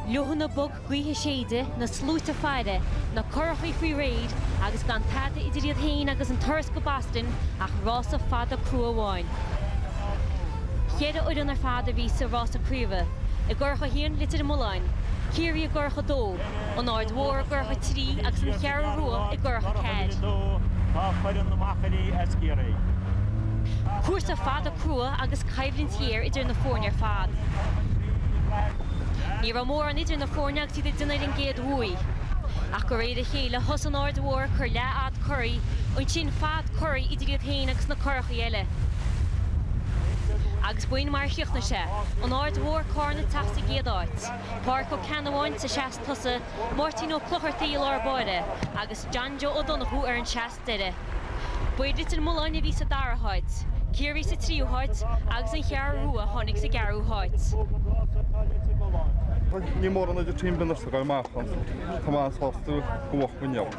Leoithne bog gaoithe ag séideadh, na sluaite ag faire, na curachaí faoi réir agus gan tada idir iad féin agus an turas go Boston ach rása fada crua amháin. Cheithre fhoireann ar fad a bhí sa rása craoibhe, i gcurach a haon, Leitir Mealláin, Ciarraí, i gcurach a dó, an Aird Mhór i gcurach a 3 agus an Cheathrú Rua i gcurach a 4. Cúrsa fada crua agus coimhlint ghéar idir na foirne ar fad. Ní raibh mórán idir na foirne agus iad ag déanamh ar an gcéad bhaoi. Ach de réir a chéile thosaigh an Aird Mhór ag cur leathfhad curaí, ansin fad curaí idir iad féin agus na curacha eile. Agus b'in mar a chríochnaigh sé, an Aird Mhór, Cárna ag teacht sa gcéad áit. Páraic Ó Ceannabháin sa seas tosaigh, Máirtín Ó Clochartaigh i lár báire agus John Joe Ó Donnchú ar an seas deiridh. Ba iad Leitir Mealláin a bhí sa dara háit, Ciarraí sa tríú háit agus an Cheathrú Rua a tháinig sa gceathrú háit. Ní mórán idir team ar bith ansin ag goil amach ach tá mé sásta gur bhuach muid ann.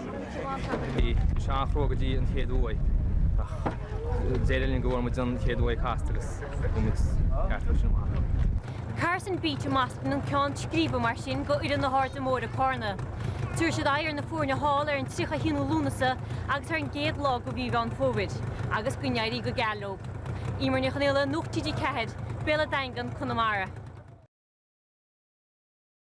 Bhí sé an-chrua go dtí an chéad bhaoi ach d'éirigh linn go bhfuair muid an chéad bhaoi casta agus bhí muid ceart uaidh sin amach. Carson Beach i mBoston an ceann scríbe mar sin go fhoireann na hAirde Móire, Cárna. Tabharfaidh siad aghaidh ar na foirne thall ar an 31ú Lúnasa agus ar an gcéad lá de mhí Mheán Fómhair, agus go n-éirí go geal leo. Eimear Ní Chonaola, Nuacht TG4, Béal an Daingin, Conamara.